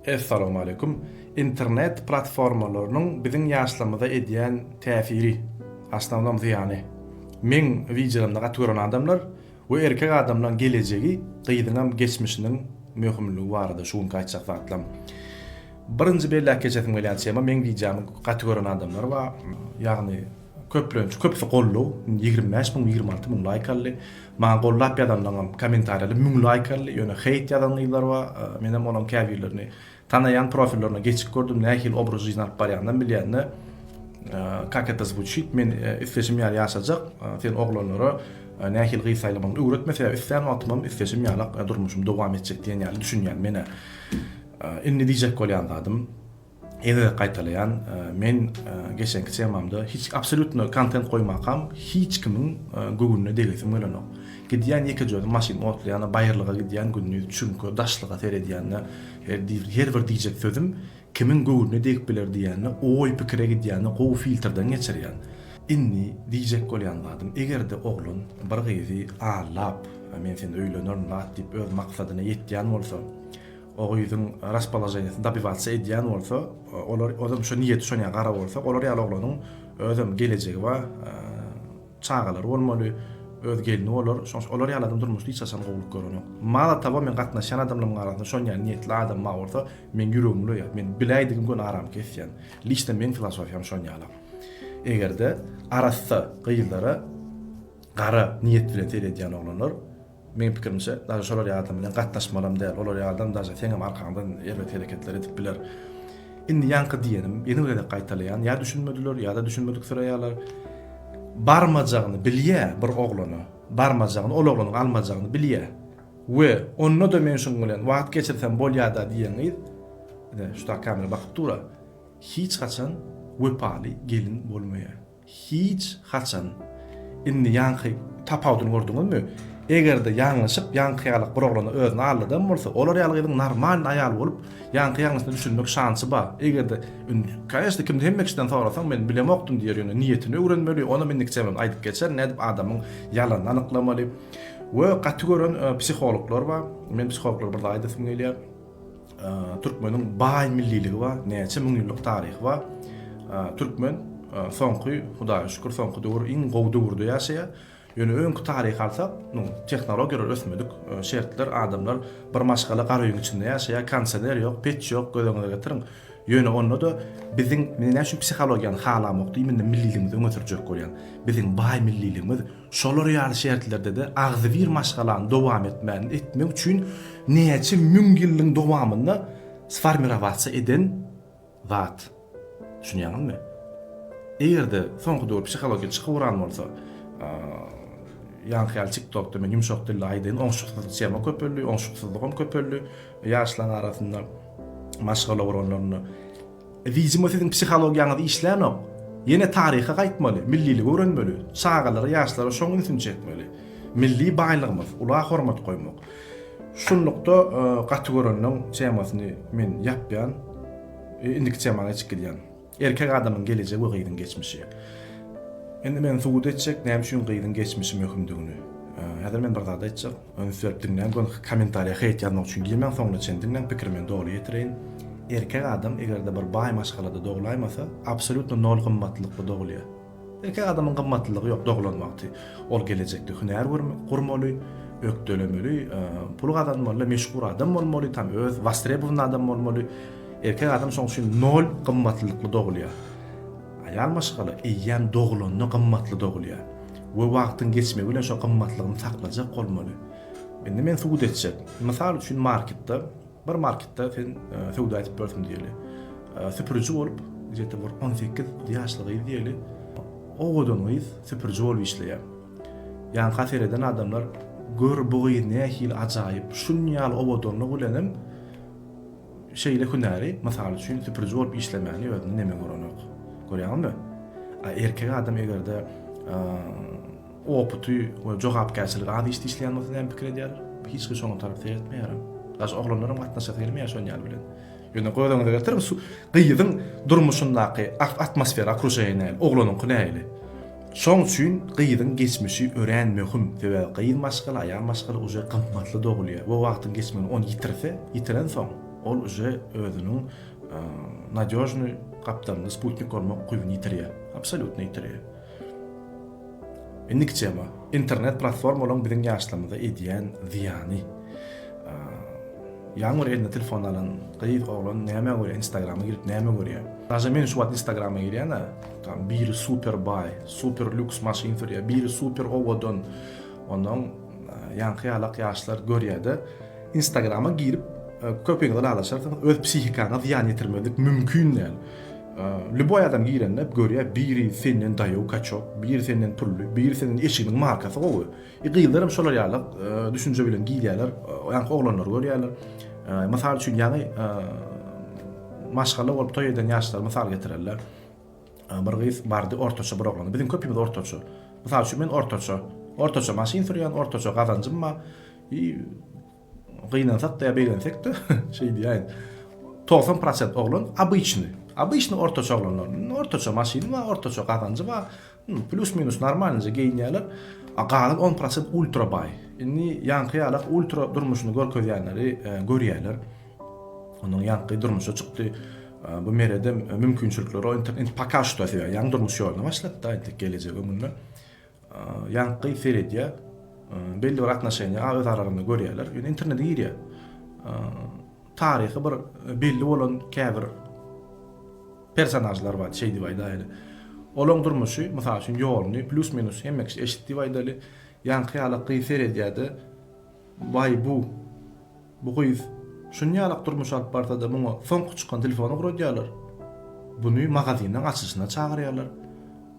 Essalamualeýkum. Internet platformalarynyň biziň ýaşlarymyza edýän täsiri, asnownom zyýany. Meň wideolarymda gaty gören adamlar we erkek adamlaň gelejegi gyzyňam geçmişiniň möhümligi barada şu günki aýtjak zatlam. Birinji belläp geçesim gelýän tema meň wideomy gaty gören adamlar bar. Ýagny Köplenç köpsi gollow ýigrimi bäş müň ýigrimi alty müň laýk aldy. Maňa gollap ýazanlaňam kommentariýada müň laýk aldy. Ýöne heýt ýazan gyzlar bar. Menem olaň käbirlerini tanaýan profillerine geçip gördüm nähili obraz jizyny alyp barýanynam bilýände kak eta zvuçit men isleşim ýaly ýaşajak sen oglanlara nähili gyz saýlamagyny öwretme sebäbi islän wagtymam isleşim ýalak durmuşym dowam etjek diýen ýaly düşünýän menä indi diýjek bolýan zadym. Ýene-de gaýtalaýan, men geçenki temamda hiç absolýutno kontent goýmakam hiç kimiň göwnüne degesim gelenok. Gidýän ýekejözi maşyn otlaýan, baýyrlyga gidýän, gündiz çüňke, daşlyga seredýände her bir diýjek sözüm kimiň göwnüne degip biler diýende oý pikire gidýände gowy filtrden geçirýän. Indi diýjek bolýan zadym eger-de oglan bir gyzy allap men seni öýlenerin lat diýip öz maksadyna ýetýän bolsa Ogyzyň raspoloženiýasyny dobiwatsy edýän bolsa, olar, ozem şo niýeti şonýa gara bolsa, olar ýaly oglanyň özem gelejegi bar, çagalary bolmaly, öz gelni bolar, şoň üçin olar ýaly adam durmuşda hiç haçan gowulyk görenok. Malo towo, meň gatnaşýan adamlarymyň arasynda şonýa niýetli adam bar bolsa, meň ýüregim ulaýar, men biläýdigim göni aram kesýän. Liçno meň filosofiýam şonýala. Eger-de arassa gyzlara gara niýet bilen seredýän oglanlar, Meň pikirimçe, daže şolar ýalam bilen gatnaşmalam däl, olar ýalam daže seňem arkaňdan erbet hereketler edip biler. Indi ýaňky diýenim, ýene bir gezek gaýtalaýan, ýa düşünmediler, ýa-da düşünmediksiraýarlar. Barmajagyny bilýä bir oglana, barmajagyny, ol oglanyň almajagyny bilýä. We onda-da men şuň bilen wagt geçirsem bolýada diýen gyz, ine, şu daky kamera bakyp dur-a, hiç haçan wepaly gelin bolmaýa. Hiç haçan. Indi ýaňky tapawudyny gördüňizmi? Eger-de ýalňyşyp ýaňky ýaly bir oglana özüni aldadan bolsa, olar ýaly gyzyň normalny aýal bolup, ýaňky ýalňyşyna düşünmek şansy bar. Eger-de, indi, kanyşna, kimde hemme kişiden sorasaň, men bilemokdym diýer, ýöne niýetini öwrenmeli, onam indiki çemem aýdyp geçer, nädip adamyň ýalanyny anyklamaly. We gaty gören psihologlar bar. Men psihologlara bir zat aýdasym gelýär. Türkmeniň baý milliligi bar, näçe müňýyllyk taryhy bar. Türkmen soňky, Hudaýa şükür, soňky döwür iň gowy döwürde ýaşaýar. Ýöne öňki taryhy alsak, tehnologiýalar ösmedik, şertler, adamlar bir maşgala gara öýüň içinde ýaşaýar, kondisioner ýok, peç ýok, göz öňüňize getiriň. Ýöne onda-da biziň, men näme üçin psihologiýany halamok diýminde milliligimizi öňe sürjek bolýan. Biziň baý milliligimiz, Şolar ýaly şertlerde-de agzybir maşgalany dowam etmän etmek üçin näçe müň ýyllyň dowamynda sformirowatsa eden zat. Düşünýäňizmi? Eger-de soňky döwür psihologiki çykyp uran bolsa, ýaňky ýaly TikTokda men ýumşak dilli aýdaýyn, oňşuksyzlyk tema köpeldi, oňşuksyzlygam köpeldi ýaşlaň arasynda maşgala guranlarynda. Widimo siziň psihologiýaňyz işlänok. Ýene taryha gaýtmaly, milliligi öwrenmeli, çagalara, ýaşlara şoň ünsüni çekmeli. Milli baýlygymyz, ula hormat goýmak. Şunlukda gaty göreniň temasyny men ýapýan. Indiki temaňa geçip gidýän. Erkek adamyň gelejegi we gyzyň geçmişi. Indi men subut etjek näme üçin gyzyň geçmişi möhümdigini. Häzir men bir zat aýtjak. Ünslenip diňläň, gönki kommentariýa heýt ýazmak üçin girmäň, soňuna çen diňläň, pikirimi doly ýetireýin. Erkek adam eger-de bir baý maşgalada doglaýmasa, absolýutno nol gymmatlylykly dogulýar. Erkek adamyň gymmatlylygy ýok doglan wagty. Ol gelejekde hünär gurmaly, ökdelemeli, pul gazanmaly, meşhur adam bolmaly, tam öz wostrebowany adam bolmaly. Erkek adam şoň üçin nol gymmatlylykly dogulýar. Aýal maşgala eýýäm dogulanda gymmatly dogulýar we wagtyň geçmegi bilen şo gymmatlygyny saklajak bolmaly. Indi men subut etjek. Mysal üçin marketde, bir marketde sen söwda edip ýörsüň diýeli. Süpüriji bolup, gije-de bir on sekiz ýaşly gyz diýeli, owadan gyz süpüriji bolup işleýär. Ýanka sereden adamlar gör bu gyz nähili ajaýyp, şunýaly owadanlygy bilenem, Şeýle hünäri, mysal üçin, süpüriji bolup işlemäni özünde neme görenok. Görýäňizmi? A erkek adam eger-de oputy we jogapkärçiligi az işde işleýän bolsa näme pikir edýär? Hiç kim şoňa tarap seretmeýär. Daşy oglanlaram gatnaşasy gelmeýär şon ýaly bilen. Ýöne göz öňüňize getiriň, su gyzyň durmuşyndaky atmosfera, okruženiýa, oglanyňky nähili? Şoň üçin gyzyň geçmişi örän möhüm, sebäbi gyz maşgala, aýal maşgala uje gymmatly dogulýar we wagtyň geçmeginde ony ýitirse, ýitirensoň, ol uje özüniň nadýožnyý gapdalynda sputnik bolmak ukybyny ýitirýär, absolýutno ýitirýär. Indiki tema, internet platformalaryň biziň ýaşlarymyza edýän zyýany. Ýaňy bir eline telefon alan gyz, oglan nämä görýär, instagrama girip näme görýär? Daže men şu wagt instagrama girýän-ä. Tam biri super baý, super lýuks maşyn sürýär, biri super owadan. Ondan ýaňky ýalak ýaşlar görýärde, Instagrama girip köpüňiz ylalaşarsyňyz, öz psihikaňa zyýan ýetirmezlik mümkin däl. Lýuboý adam girende görýär, biri senden daýaw kaçok, biri senden pully, biri senden eşiginiň markasy gowy. E gyzlar hem şolar ýaly düşünje bilen girýärler, ýaňky oglanlary görýärler. Mysal üçin ýaňy maşgala bolup toý eden ýaşlary mysal getirerler. Bir gyz bardy, ortaça bir oglan. Biziň köpimiz ortaça. Mysal üçin, men ortaça. Ortaça maşyn sürýän, ortaça gazanjym bar. I gynansak-da ýa begensekde, şeý diýäýin, togsan prosent oglan obyçnyý. Obyçnyý ortaça oglanlar. Ortaça maşyny bar, ortaça gazanjy bar. Plus minus normalnyja geýinýärler. A galan on prosent ultra baý. Indi ýaňky ýalak ultra durmuşyny görkezýänleri görýäler. Onuň ýaňky durmuşa çykdy. Bu merede mümkinçilikleri indi poka şuta sebäp ýaňy durmuş ýoluna başlapda entek gelejek öňünde. Ýaňky seredýär. Belli bir atnoşeniýa a öz aralarynda görýärler. Ýöne internete girýär. Taryhy bir belli bolan käbir Personažlar bar, şeý diýip aýdaýaly. Olaň durmuşy, mysal üçin, ýoluny plýus-minus hemme kişi eşit diýip aýdaly. Ýaňky ýalak gyz seredýär-de, Waý, bu, bu gyz şuny ýalak durmuş alyp barsa-da, muňa soňky çykan telefony ugradýarlar. Buny magazynyň açylyşyna çagyrýarlar.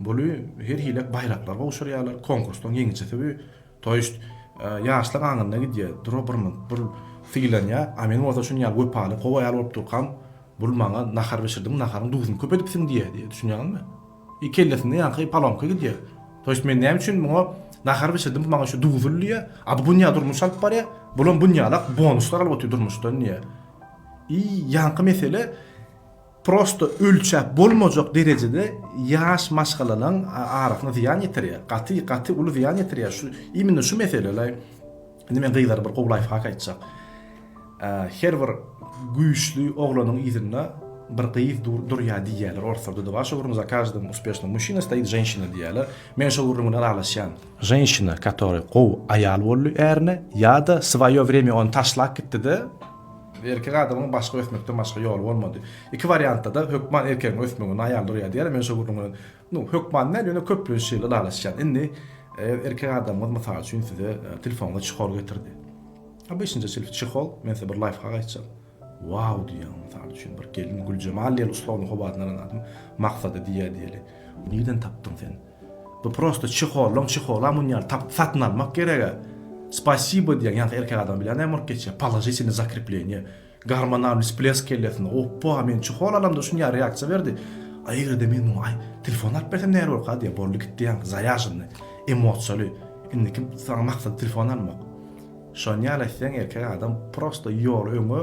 Buly her hili baýraklar gowşurýarlar, konkursdan ýeňijisi bu. To jest ýaşlyk aňyryna gidýär, dura bir minut bul sylanýar, a men bolsa şuny ýaly wepaly, gowy aýal bolup durkam, bul maňa nahar bişirdiň, naharyň duzuny köp edipsiň diýýär diýýär, düşünýäňizmi? I kellesinde ýaňky palonka gidýär. To jest men näme üçin muňa nahar bişirdim, bu maňa şu duzul diýýär, a bu günýä durmuş alyp barýar, bulam günýälak bonuslar alyp otyr durmuşdan diýýär. I ýaňky mesele. prosto ölçäp bolmajak derejede ýaş maşgalalaň arasyna zyýan ýetirýär, gaty gaty uly zyýan ýetirýär, şu imенно şu mesele ylay, indi men gyzlara bir gowy laýfhak aýtjak, her bir güýçli oglanyň yzynda bir gyz durýar diýýärler orslarda da bar, şo gürrüň za każdym uspešnym muşina stoýit ženşina diýýärler, men şo gürrüň bilen ylalaşýan, ženşina katory gowy aýal boldy ärine ýa-da svaýo wremýa ony taşlap gitdide, Erkek adamyň başga ösmekden başga ýoly bolmady. Iki wariantda-da hökman erkegiň ösmeginde aýal durýar diýýärler. Men şo gürrüň bilen, nu, hökman däl, ýöne köplenç şeýle ylalaşýan. Indi, eger erkek adamyňyz, mysal üçin, size telefonyňyza çihol getirdi. Obyçnja çihol, men size bir laýfhak aýtjak. Wau diýýäň, mysal üçin, bir gelin Güljemal diýeli ussagyň howasyny alan adam Maksada diýýär diýeli. Nirden tapdyň sen? Bu prosta çehollan çehola munýal tagt satyn almak gerega spasibo diýen ýaňky erkek adam bilen näme bolup geçýär položitelne zakrepleniýe gormonalny splesk kellesinde oppoa men çehol alamda şunýa reaksiýa berdi a egerde men muňa aý telefon alyp bersem näber bolka diýe boldy gitdi ýaňky zaýaženny emosiýaly indiki saňa maksat telefon almak şonýaly etseň erkek adam prosta ýoly öňe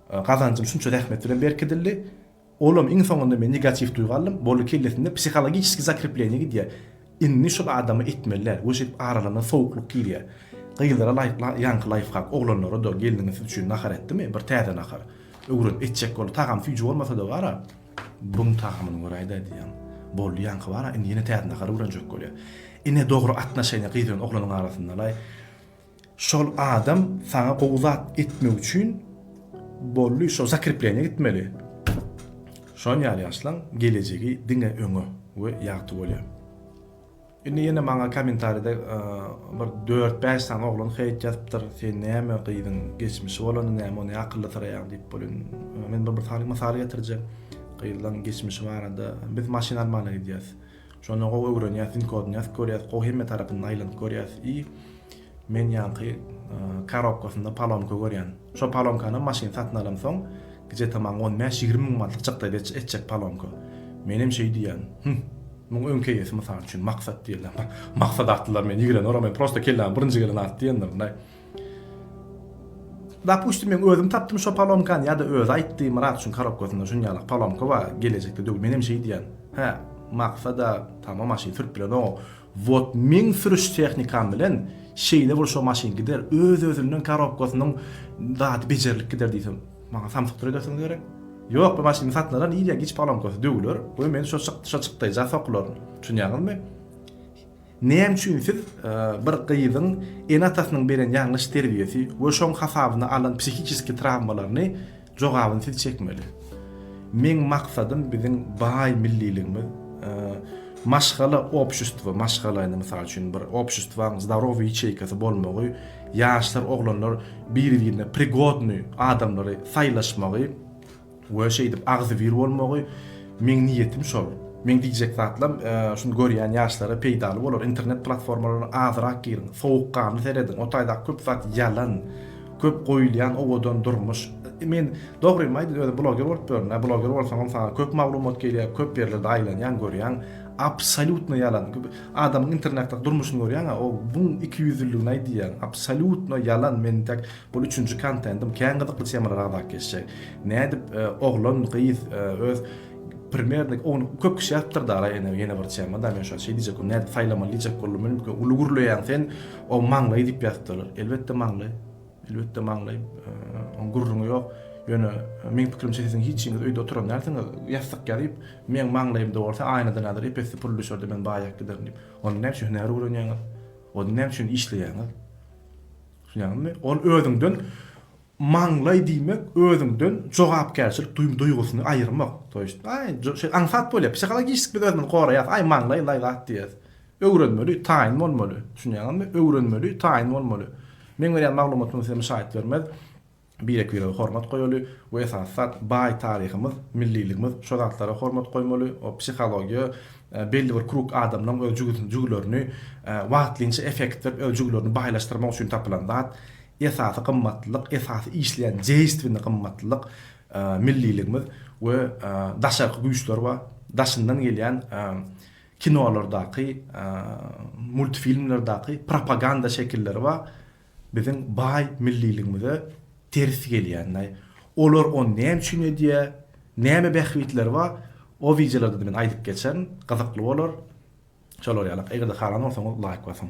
Gazanjym şunça zähmet bilen berkidildi. Olam iň soňunda men negatiw duýgy aldym. Boldy kellesinde psihologiçeskiý zakrepleniýa gidýär. Indi şol adama etmeliler we şeýdip aralaryna sowuklyk girýär. Gyzlara laýyk ýaňky laýfhak, oglanlara-da gelniňiz siz üçin nahar etdimi? Bir täze nahar. Öwren, etjek bol. Tagam süýji bolmasa-da gara, buň tagamyny göräýdä diýýän. Boldy ýaňky bara, indi ýene täze nahar öwrenjek bolýar. Ine dogry atnaşeniýa gyz bilen oglanyň arasyndalaý. Şol adam saňa gowy zat etmek üçin bolly şo zakrepleniýa gitmeli. Şon ýaly ýaşlaň gelejegi diňe öňe we ýagty bolýar. Indi ýene maňa komentaride e, bir 4-5 sany oglan heýt ýazypdyr. Sen näme gyzyň geçmişi bolany näme ony akylly syraýaň diýip bolýan. E, men bir bir sany mysal getirjek. Gyzlaň geçmişi barada biz maşyn almana gidýäs. Şony gowy öwrenýäs, sync kodunýas, görýäs, gowy hemme tarapyndan aýlanyp görýäs i men ýaňky karobkasynda palomka görýän. Şo palomkanam maşyn satyn alamsoň gije tamam on bäş, ýigrimi müň manatlyk çykdaý etjek palomka. Menem şeý diýýän, Hümm, muň öňki eýesi mysal üçin Maksat diýýän. Maksat atlylar meni ýigreneweraý, men prosta kelläme birinji gelen at diýendirin-aý. Dapustim men özüm tapdym şo palomkany ýa-da özi aýtdy Myrat üçin korobkasynda şunýalak palomka bar gelejekde döw men hem şeý diýýän hä maksada tamam maşyn sürüp bilenogau wot meň sürüş tehnikam bilen şeýle bul şo maşyn gider öz özünden korobkasynyň zady bejerilip gider diýsem maňa samsykdyr edersiňiz gerek ýok bu maşyny satyn alan irýa giç palomkasy döwüler we men şo şo çykdaýja sokularyn düşünýäňizmi. Näme üçin siz bir gyzyň ene-atasynyň beren ýalňyş terbiýesi we şoň hasabyna alan psihiçeski trawmalaryny jogabyny siz çekmeli? Meň maksadym biziň baý milliligimiz, maşgala obşustwo, maşgala indi mysal üçin bir obşustwaň zdarowyý ýaçeýkasy bolmagy, ýaşlar, oglanlar biri-birine prigodnyý adamlary saýlaşmagy, We şeýdip agzybir bolmagy meň niýetim şol. Meň diýjek zatlam şuny görýän ýaşlara peýdaly bolar. Internet platformalaryna azyrak giriň, sowukganly serediň, o taýdaky köp zat ýalan, köp goýulýan owadan durmuş. Men dogrymy aýdyň özüm bloger bolup ýörün-ä, bloger bolsaňam saňa köp maglumat gelýär, köp ýerlerde aýlanýaň, görýäň, absolýutno ýalan. Adamyň internetdäki durmuşyny görýäň-ä, o muň ikiýüzlüligini aýdýan, absolýutno ýalan, men intäk Bul üçünji kontentim kän gyzykly temalar agzalyp geçjek. Nädip oglan gyz öz primernik ony köp kişi ýazypdyr da araý ene ýene bir tema da men şo şeý diýjek boldum nädip saýlamaly diýjek boldum men ilki uly gürleýäň sen o maňlaý diýip ýazypdyr elbetde maňlaý elbetde maňlaý oň gürrüňi ýok ýöne meň pikirimçe siziň hiç hiçiňiz öýde oturan dälsiňiz ýassyk ýazyp meň maňlaýymda bolsa aýnadan häzir epesli pul düşerde men baýap giderin diýip onda näme üçin hünär öwrenýäňiz onda näme üçin işleýäňiz Düşünýäňizmi? Ol özüňden maňlaý diýmek, özüňden jogapkärçilik duýgusyny aýyrmak. To ýest, aý, şeýle aňsat bolýar. Psihologişski biz özümizi goraýas, aý, maňlaý laý zat diýýäs. Öwrenmeli, taýyn bolmaly. Düşünýäňizmi? Öwrenmeli, taýyn bolmaly. Meň berýän maglumatym size müşaýat bermez. Birek-birege hormat goýaly we esasy zat baý taryhymyz, milliligimiz şo zatlara hormat goýmaly, o psihologiýa belli bir krug adamlaň öz jügüsini jügülerini wagtlynça effekt berip öz jügülerini baýlaşdyrmak üçin tapylan zat esasy gymmatlylyk esasy işleýän deýstwini gymmatlylyk milliligimiz we daşarky güýçler bar daşyndan gelýän kinolardaky multfilmlerdaky propaganda şekilleri bar. biziň baý milliligimize ters gelýänini, olar ony näme üçin edýär, näme bähbitleri bar, o wideolarda-da men aýdyp geçerin, gyzykly bolar. Şolar ýaly, eger-de halan bolsaňyz laýk basyň.